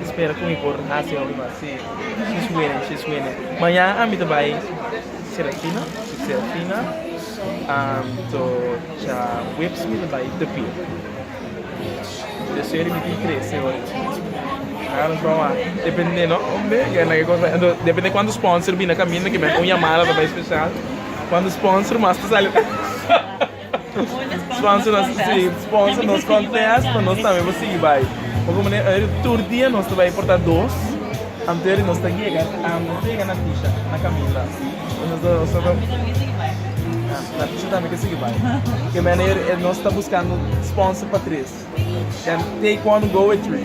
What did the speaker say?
Mi spera cu mi por haci un así. She's winning, she's winning. Mañana ami ta bay Serafina, su Serafina to cha whips mi ta bay tupia. Deseo di mi tin trece ora chi. Nan a trawa. Depende no hombre, ke na ke cosa. Ento depende cuanto sponsor bina caminda, ke mi a ta un llamada ta bay special. Cuanto sponsor mas ta sali. Sponsor nos contest. Sponsor nos contest pa nos tambe por sigui bay. Bo con manera ey tur dia nos ta bay porta dos antes di nos ta yega nos ta yega na Tisha na Camila nos ta nos ta na Tisha tambe ke sigui bay ke manera ey nos ta buscando sponsor pa tres den take one go with three.